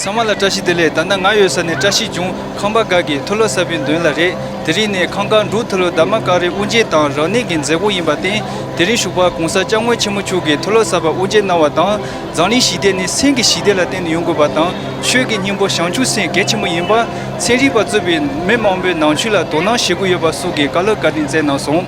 ཚང་མ་ལ་བཀྲ་ཤིས་བདེ་ལེགས་ད་ནི་ང་ཡོད་ས་ནས་བཀྲ་ཤིས་འབྱུང་ཁང་པ་འགའ་གི་ཐུ་ལོ་གསར་པའི་མདུན་ལ་རེད་དེ་རིང་ནས་ཁང་ཀར་འབྲུག་ཐུ་ལོ་དར་མ་ཀ་རི་དབུ་འབྱེད་དང་རང་གནས་ཀྱི་མཛད་སྒོ་ཡིན་པར་བརྟེན་དེ་རིང་བཞུགས་པ་གོང་ས་སྐྱབས་དངོས་ཆེན་མོ་མཆོག་གིས་ཐུ་ལོ་གསར་པ་དབུ་འབྱེད་གནང་བ་དང་མཛངས་གླིང་ཞི་བདེ་ནི་སེམས་ཀྱི་ཞི་བདེ་ལ་བརྟེན་ནས་ཡོང་དགོས་པ་དང་ཆོས་ཀྱི་སྙིང་པོ་བྱང་ཆུབ་སེམས་གལ་ཆེན་པོ་ཡིན་པ་ཚན་རིག་པ་གཙོས་པའི་མི་མང་པོས་ནང་ཆོས་ལ་དོ་སྣང་བྱེད་དགོས་ཡོད་པ་སོགས་ཀྱི་བཀའ་སློབ་བཀའ་དྲིན་བསྩལ་གནང་སོང།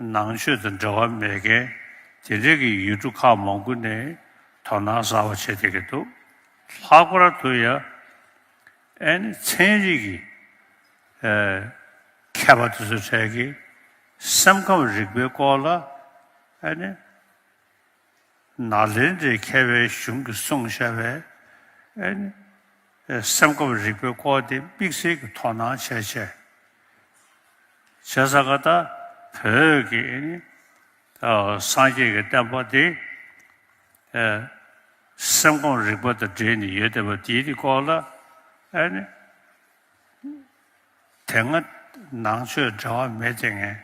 ནང་ཆོས་དང་འབྲེལ་བ་མེད་མཁན་དེ་འདྲས་ཀྱི་ཡུལ་གྲུ་ཁག་མང་པོ་ནས་དོ་སྣང་གསར་བ་བྱེད་བསྡད་ཀྱི་འདུག་ལྷག་པར་དུ་ཡ་ཨན་ནི་ཚན་རིག་གི་མཁས་པ་དེ་ཚོའི་གྲས་ཀྱིས་སེམས་ཁམས་རིག་པའི་སྐོར་ལ་ཨ་ནི་ནགས་ལེན་དེ་མཁས་པའི་གཞུང་གི་སྲུང་བྱ་བསསེམས་ཁམས་རིག་པའི་སྐོར་དེ་དམིགས་བསལ་གྱི་དོ་སྣང་བྱས་བྱས་བྱས་ས་ག་ད་བོད་ཀྱི་སངས་རྒྱས་ཀྱི་བསྟན་པ་དེ་སེམས་ཁམས་རིག་པ་དང་འབྲེལ་ནས་ཡོད་བསྡད་པ་དེའི་སྐོར་ལ་དེ་སྔ་ནང་ཆོས་འབྲེལ་བ་མེད་དེ་ངན།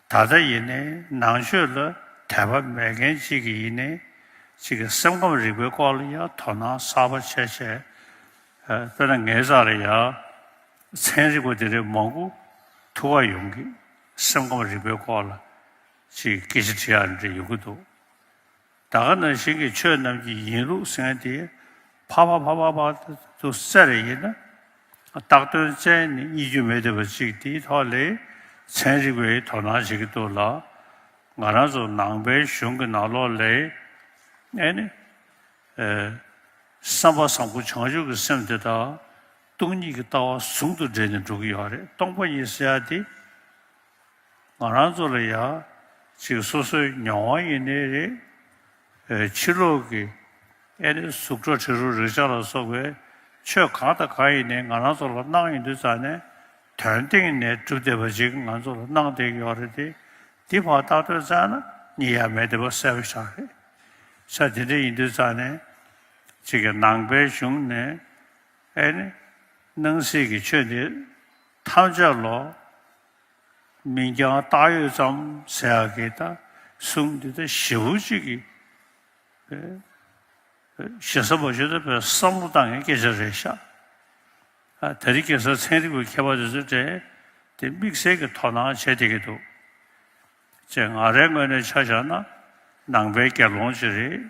ད་ལྟ་ཡིན་ནའི་ནང་ཆོས་ལ་དད་པ་མེད་མཁན་གཅིག་གིས་ཡིན་ནའི་གཅིག་གིས་སེམས་ཁམས་རིག་པའི་སྐོར་ལ་ཡང་དོ་སྣང་གསར་པ་བྱས་བྱས། དཔེར་ན་ངའི་རྩ་ལ་ཡང་ཚན་རིག་པ་འདི་རིགས་མང་པོ་ཐུག་ཀ་ཡོང་གི། སེམས་ཁམས་རིག་པའི་སྐོར་ལ་ཅིག་སྐད་ཆ་དྲི་ཡ་འདྲ་ཡོང་གི་འདུག། ད་ག་ནང་བཞིན་གྱི་ཆོས་རྣམས་ཀྱི་ཡིན་ལུགས་ཟིན་ཏེ། ཕ་བ་ཕ་བ་བར་དུ་གསལ་རེ་ཡིན་ན། རྟགས་དོན་བཙན་ནི་གཉིས་རྒྱུ་མེད་འདོད་པ་ཅིག་དེའི་ཐོག་ལས་ཚན་རིག་པས་དོ་སྣང་བྱེད་ཀྱི་འདུག་ལ། ང་རང་ཚོ་ནང་པའི་གཞུང་གི་ནང་ལོགས་ལས། ཨེ་ནི། བསམ་པ་བཟང་པོ་བྱང་ཆུབ་ཀྱི་སེམས་དེ་དག་སྟོང་ཉིད་ཀྱི་ལྟ་བ་ཟུང་དུ་འབྲེལ་ནས་འགྲོ་གི་ཡོད་རེད་སྟོང་པ་ཉིད་ཟེར་ཡ་དེ། ང་རང་ཚོ་ལ་ཡང་ཅིག་སོ་སོའི་མྱོང་བ་ཡིན་ནི་རེད། ཕྱི་ལོག་གི་ཨེ་ནི་གཟུགས་སྒྲ་དྲི་རོ་རེག་བྱ་ལ་སོགས་པའི་ཆོས་གང་དང་གང་ཡིན་ནི་ང་རང་ཚོ་ལ་སྣང་ཡོད་འདུག་ཙང་ནས་དོན་སྟེང་ནས་གྲུབ་བསྡད་པ་ཅིག་ང་ཚོ་ལ་སྣང་བསྡད་ཀྱི་ཡོག་རེད་དེ། འདི་བར་བརྟག་ཐོས་ཙང་ན་གཉིས་ཡག་མེད་བསྡད་པ་གསལ་པོ་ཆགས་རེད། ཆ་དེ་འདྲ་ཡིན་འདུག་ཙང་ནས་ཅིག་གི་ནང་པའི་གཞུང་ནས་ཨེ་ནི་སྣང་སྲིད་ཀྱི་ཆོས་འདི་ཐམས་ཅད་ལོ། མིང་རྐྱང་བཏགས་ཡོད་ཙམ་ཟེར་ཡག་གི་ད་གསུམ་འདི་ད་ཞི་བོ་གཅིག་གི་ཞེ་ས་བ་ཞིག་ད་བོད་བསམ་བློ་བཏང་མཁན་སྐད་ཆ་རེད་ཤག་ད་རི་གེ་སར་ཚན་རིག་པའི་མཁས་པ་དེ་ཚོ་དེ་དེ་དམིགས་བསལ་གི་དོ་སྣང་བྱེད་བསྡད་ཀྱི་འདུག་ཅེས་ང་རའི་ངོས་ནས་ཆ་བཞག་ན་ནང་པའི་དགེ་སློང་ཅིག་རེད།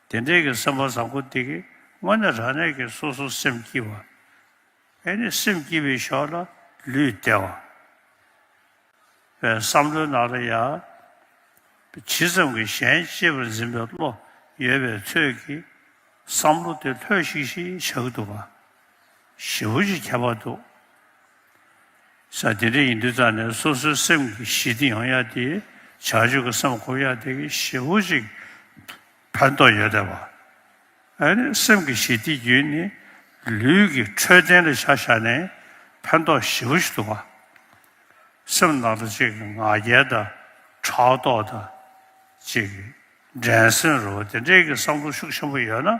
དེ་འདྲའི་གི་སེམས་པ་བཟང་པོ་འདི་གི་སྔོན་ནས་རང་གནས་ཀྱི་སོ་སོར་སེམས་བསྐྱིལ་བ། ཨེ་ནི་སེམས་བསྐྱིལ་བའི་ཞོར་ལ་ལུས་བདེ་བ། བའི་བསམ་བློའི་ནང་ལ་ཡ། ཇི་ཙམ་གྱི་གཞན་གཅེས་པར་འཛིན་པའི་བློ་ཡོད་པའི་ཚོད་ཀྱིས་བསམ་བློ་དེ་ལྷོད་ཤིག་ཤིག་བཞག་འདུག་པ། ཞེ་བོ་ཞེས་བྱ་བ་འདུག། ས་དེ་འདྲ་ཡིན་དུས་རྩ་ནས་སོ་སོའི་སེམས་ཀྱི་ཞི་བདེ་ཡོང་ཡ་དེ་བྱ་སྤྱོད་ཀྱི་སེམས་འཁོར་ཡ་དེ་གི་ཞེ་བོ་ཞིག་ཕན་ཐོགས་ཡོད་དེ་བ། ཨཱ་སེམས་ཀྱི་ཞི་བདེ་རྒྱུན་ནི་ལུས་ཀྱི་འཕྲོད་བསྟེན་ལ་བྱ་བྱ་ནས་ཕན་ཐོགས་ཞེ་བོ་ཞིག་འདུག་བ། སེམས་ནང་དུ་ཅིག་ང་རྒྱལ་དང་ཕྲག་དོག་དང། ཅིག་འགྲན་སེམས་རོ་དེ་འདྲའི་གི་བསམ་བློ་ཤུགས་ཆེན་པོ་ཡོད་ན།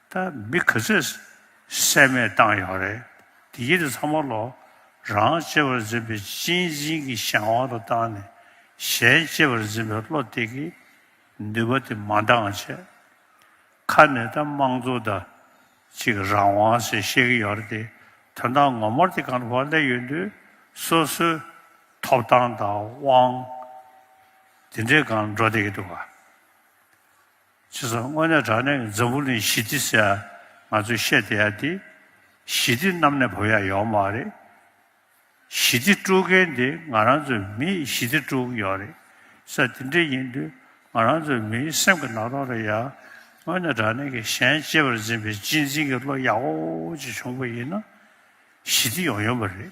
ད་མི་ག་ཚོད་བསད་མེད་བཏང་ཡོང་རེད་དེ་གྱིས་ཚང་མ་ལོ་རང་གཅེས་པར་འཛིན་པའི་གཅེས་འཛིན་གྱི་གཞན་དབང་དུ་བཏང་ནས་གཞན་གཅེས་པར་འཛིན་པའི་བློ་གཏད་ཀྱི་ནུས་པ་དེ་མ་འདང་ཆེད་ཁ་ནས་ད་དམངས་གཙོ་ད་ཅིག་རང་དབང་ཟེར་བཤད་ཀྱི་ཡོད་རེད་དེ་དོན་དག་ངོ་མར་དེ་ག་འདྲ་བ་སླེབས་ཡོད་དུས་སོ་སོའི་ཐོབ་ཐང་དང་དབང་དེ་འདྲས་གང་འགྲོ་བསྡད་ཀྱི་འདུག་ག། ཅི་སོང་དངོས་གནས་དྲང་གནས་ཀྱི་འཛམ་བུ་གླིང་ཞི་བདེ་ཟེར་ང་ཚོས་བཤད་བསྡད་ཡ་དེ་ཞི་བདེ་གནམ་ནས་བབས་ཡ་ཡོག་མ་རེད། ཞི་བདེ་དཀྲུག་མཁན་དེ་ང་རང་ཚོའི་མིས་ཞི་བདེ་དཀྲུག་ཡོག་རེད་ས་དེ་འདྲས་ཡིན་དུས་ང་རང་ཚོའི་མིའི་སེམས་ཀྱི་ནག་ཐོག་རེད་ཡ། དངོས་གནས་དྲང་གནས་ཀྱི་གཞན་གཅེས་པར་འཛིན་པའི་གཅེས་འཛིན་གྱི་བློ་ཡག་འོ་ཅིག་བྱུང་པ་ཡིན་ན་ཞི་བདེ་ཡོང་ཡོང་པ་རེད།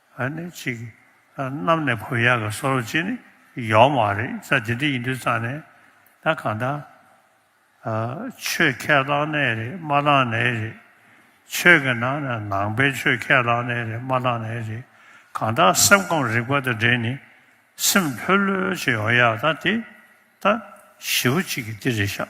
ཨ་ནི་གཅིག། གནམ་ནས་བུ་ཡག་གི་སོ་རོ་གཅིག་ནི་ཡོག་མ་རེད་ས་དེ་འདྲི་ཡིན་དུས་ཙང་ནས་ད་གང་ད། ཆོས་ཁས་ལག་ནས་རེད་མ་ལག་ནས་རེད། ཆོས་ཀྱི་ནང་ནས་ནང་པའི་ཆོས་ཁས་ལག་ནས་རེད་མ་ལག་ནས་རེད་གང་ད་སེམས་ཁོང་རིག་པ་དང་འབྲེལ་ནི་སེམས་ལྷོད་ལྷོད་བྱེད་ཡོག་ཡག་ད་དེ་ད་ཞེ་བོ་གཅིག་གི་འདི་རེད་ཤག།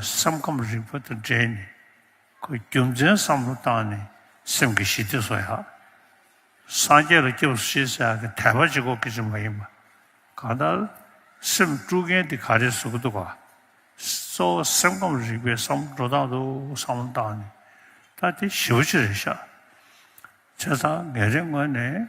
སེམས་ཁམས་རིག་པ་དང་འབྲེལ་ནས་ཁོས་རྒྱུ་མཚན་བསམ་བློ་བཏང་ནས་སེམས་ཀྱི་ཞི་བདེ་བཟོ་ཡག། སངས་རྒྱས་ལ་སྐྱབས་སུ་མཆི་ཟེར་ཡག་གི་དད་པ་ཅི་གོ་གི་ཅི་མ་ཡིན་པ། གང་ལྟར། སེམས་དཀྲུག་མཁན་དེ་ག་རེ་བཟོ་གི་འདུག་ག། གཙོ་བོ་སེམས་ཁམས་རིག་པའི་བསམ་བློ་འགྲོ་སྟངས་འདུག་བསམ་བློ་བཏང་ནས་ད་དེ་ཞི་བ་ཅི་རེད་ཤག། ཚེ་ཚང་ངས་རེ་སྔོན་ནས།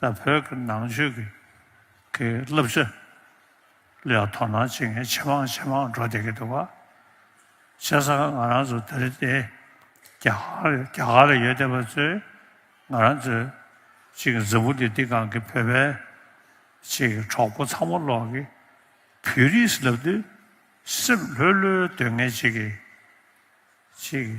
ལ་བོད་ཀྱི་ནང་ཆོས་ཀྱི་བསླབ་བྱ་ལ་ཡང་དོ་སྣང་བྱེད་མཁན་ཇེ་མང་ཇེ་མང་འགྲོ་བསྡད་ཀྱི་འདུག་བྱས་ཙང་ང་རང་ཚོ་འདིར་བསྡད་རྒྱ་གར་ལ་ཡོད་བསྡད་པ་ཚོས་ང་རང་ཚོའི་ཅིག་འཛམ་བུ་འདི་འདི་སྒང་གི་བོད་པའི་ཅིག་གྲོགས་པོ་ཚང་མ་ལོག་གི་བོད་རིགས་ལབ་དུས་སེམས་ལྷོད་ལྷོད་སྡོད་ངེས་ཅིག་གིས་ཅིག།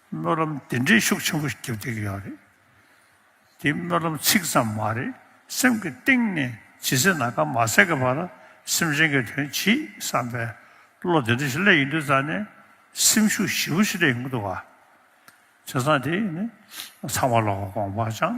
སྨོན་ལམ་འདི་འདྲའི་ཤུགས་ཆེན་པོ་བརྒྱབ་ཐུབ་ཀྱི་ཡོད་རེད། འདི་སྨོན་ལམ་ཚིག་ཙམ་མ་རེད་སེམས་ཀྱི་གཏིང་ནས་ཇི་སྲིད་ན་ཁ་མ་གསལ་གི་བར་སེམས་ཅན་གྱི་དོན་གྱིས་བསམ་པའི་བློ་དེ་འདྲ་ཞིག་སླེབས་ཡིན་དུས་རྩ་ནས་སེམས་ཤུགས་ཞིབ་པོ་ཞིག་སླེབས་ཡོང་གི་འདུག་བ། བྱས་ཙང་དེ་ནི་ཚང་མ་ལོག་གོང་བག་ཆང།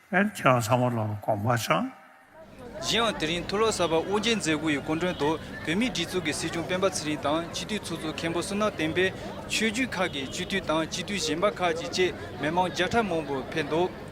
ཨེར་ཁྱོད་ཚང་མ་ལོ་ལོ་གོང་འཕར་བྱུང། གཞན་ཡང་དེ་རིང་ཐུགས་བློ་གསར་པ་དབུ་རྒྱན་མཛད་སྒོ་ཡི་སྐུ་མགྲོན་དུ་བོད་མིའི་སྒྲིག་འཛུགས་ཀྱི་སྲིད་སྐྱོང་སྤེན་པ་ཚེ་རིང་དང་སྤྱི་འཐུས་ཚོགས་གཙོ་མཁན་པོ་སུ་ནག་བསྟན་པས་ཆོས་བརྒྱུད་ཁག་གི་སྤྱི་འཐུས་དང་སྤྱི་འཐུས་གཞན་པ་ཁག་ཅིག་བཅས་མི་མང་བརྒྱ་ཕྲག་མང་པོ་ཕེབས་འདུག།